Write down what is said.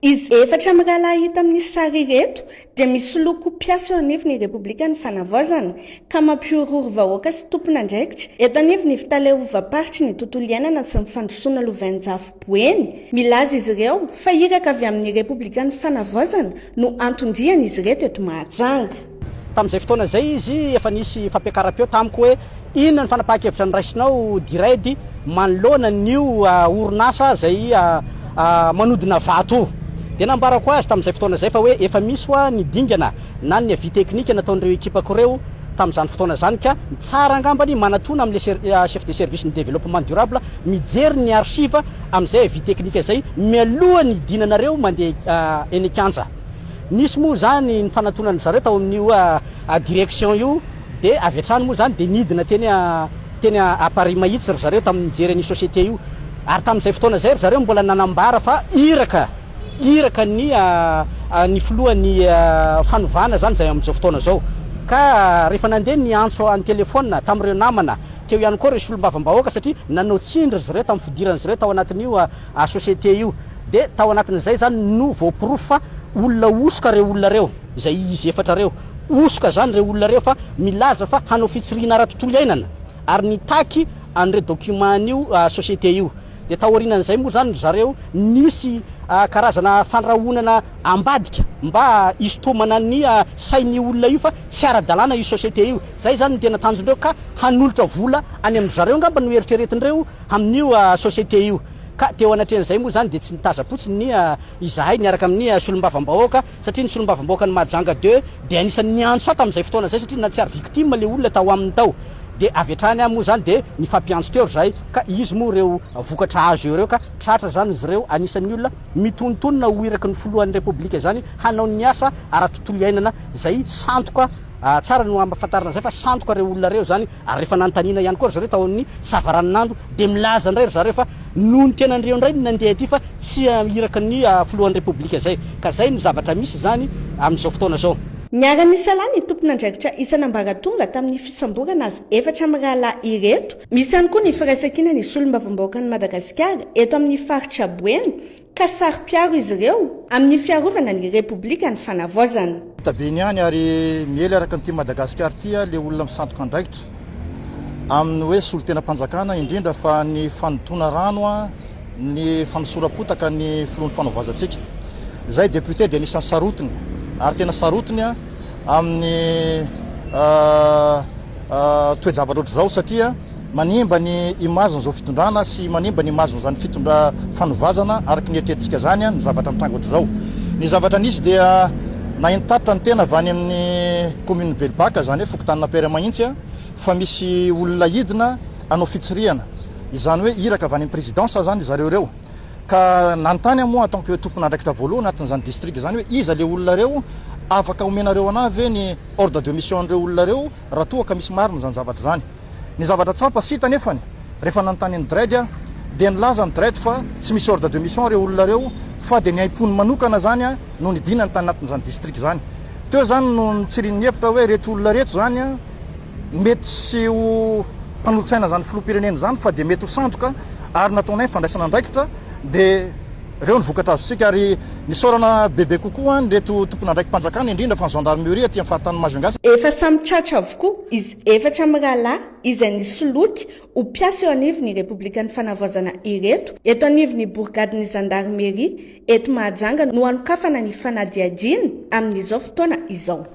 Izy efatra mirahalahy hita amin'ny sary ireto dia misoloky mpiasa eo anivon'ny Repoblikan'ny Fanavaozana ka mampihorohoro vahoaka sy tompon'andraikitra eto anivon'ny Fitaleovam-paritry ny Tontolo Iainana sy ny Fandrosoana Lovainjafy Boeny. Milaza izy ireo fa iraka avy amin'ny Repoblikan'ny Fanavaozana no anton-dian'izy ireto eto Mahajanga. Tamin'izay fotoana izay izy, efa nisy fampiakaram-peo tamiko hoe inona ny fanapahan-kevitra noraisinao Diredi manoloana an'io orinasa izay manodina vato io. Dia nambarako azy tamin'izay fotoana izay fa hoe efa misy hoa ny dingana na ny avis teknika nataon'ireo ekipako ireo tamin'izany fotoana izany ka tsara angamba ny manatona amin'ilay chef de service ny développement durable mijery ny archive amin'izay avis teknika izay mialoha ny hidinanareo mandeha eny an-kianja. Nisy moa izany ny fanatonan'dry zareo tao amin'io direction io dia avy hatrany moa izany dia nidina teny teny à Paris mahitsy ry zareo tamin'ny nijery an'io société io ary tamin'izay fotoana izay ry zareo mbola nanambara fa iraka iraka ny ny filohan'ny fanovana izany izay amin'izao fotoana izao ka rehefa nandeha niantso an-telefaonina tamin'ireo namana teo ihany koa ireo solombavambahoaka satria nanao tsindry ry zareo tamin'ny fidiran'izy ireo tao anatin'io à société io dia tao anatin'izay zany no voaporofo fa olona hosoka reo olona reo, izay izy efatra reo hosoka zany reo olona reo fa milaza fa hanao fitsirihina ara tontolo iainana ary nitaky an'ireo document an'io à société io dia taorinan'izay moa zany ry zareo nisy à karazana fandrahonana ambadika mba hisitomana ny à sain'io olona io fa tsy ara dalàna io société io, zay zany no tena tanjondreo ka hanolotra vola any amin-dry zareo angamba no eritreretin'ireo amin'io société io ka teo anatrehan'izay moa izany dia tsy nitazam-potsiny ny izahay niaraka amin'ny solombavambahoaka satria ny solombavambahoakan'i Mahajanga deux dia anisan'ny niantso ahy tamin'izay fotoana izay satria na tsy ary victime ilay olona tao aminy tao dia avy hatrany aho moa izany dia nifampiantso teo ry zahay ka izy moa ireo vokatra azo eo ireo ka tratra izany izy ireo anisan'ny olona mitonontonona ho iraky ny filohan'ny repoblika izany hanao ny asa ara-tontolo iainana izay sandoka Tsara no ampafantarina izay fa sandoka ireo olona ireo izany ary rehefa nanontaniana ihany koa ry zareo tao amin'ny savaranonando dia milaza indray ry zareo fa noho ny tenan'ireo indray no nandeha ety fa tsy iraka ny filohan'ny repoblika izay ka izay no zavatra misy izany amin'izao fotoana izao. Niara-nisalahy ny tompon'andraikitra isan'ambaratonga tamin'ny fisamborana azy efatra mirahalahy ireto. Misy ihany koa ny firaisankina ny Solombavambahoakan'i Madagasikara eto amin'ny faritra Boeny, ka saro-piaro izy ireo amin'ny fiarovana ny Repoblika ny Fanavaozana. Tabeny ihany ary miely araka ny Tim Madagascar tia le olona misandoka andraikitra aminy hoe solotenam-panjakana indrindra fa ny fanodoana rano ny fanosoram-potaka ny filoha ny fanovazantsika. Izay député dia anisan'ny sarotiny ary tena sarotiny amin'ny toejavatra ohatr'izao satria Manimba ny image n'izao fitondrana sy manimba ny image n'izany fitondra fanovazana araky ny eritrerititsika zany ny zavatra mitranga ohatr'izao. Ny zavatra nisy dia nahintatitra ny tena avy any amin'ny commune Belobaka izany hoe fokontanin'Ampere mahintsy fa misy olona hidina hanao fitsirihana izany hoe iraka avy any amin'ny présidence zany ry zareo ireo ka nanontany aho moa en tant que tompon'andraikitra voalohany atin'izany district izany hoe iza le olona reo afaka omenareo anah ve ny ordre de mission an'ireo olona reo raha toa ka misy marina izany zavatra izany. Ny zavatra tsampa sy hita anefany, rehefa nanontany an'i Dread aho, dia nilaza an'i Dread fa tsy misy ordre de mission ireo olona ireo fa dia ny aim-pony manokana izany no nidinany tany anatin'izany district izany. Teo izany no nitsirian'ny hevitra hoe ireto olona ireto izany mety tsy ho mpanolo-tsaina izany filoham-pirenena izany fa dia mety ho sandoka ary nataonay fandraisana andraikitra dia Ireo no vokatra azontsika ary nisaorana bebe kokoa an ireto tompon'andraiki-panjakana indrindra fa ny gendarmerie aty amin'ny faritan'i Majunga. Efa samy tratra avokoa izy efatra mirahalahy izay nisoloky ho mpiasa eo anivon'ny Repoblikan'ny Fanavaozana ireto eto anivon'ny borigadin'ny zandarmeria eto Mahajanga no hanokafana ny fanadihadiana amin'izao fotoana izao.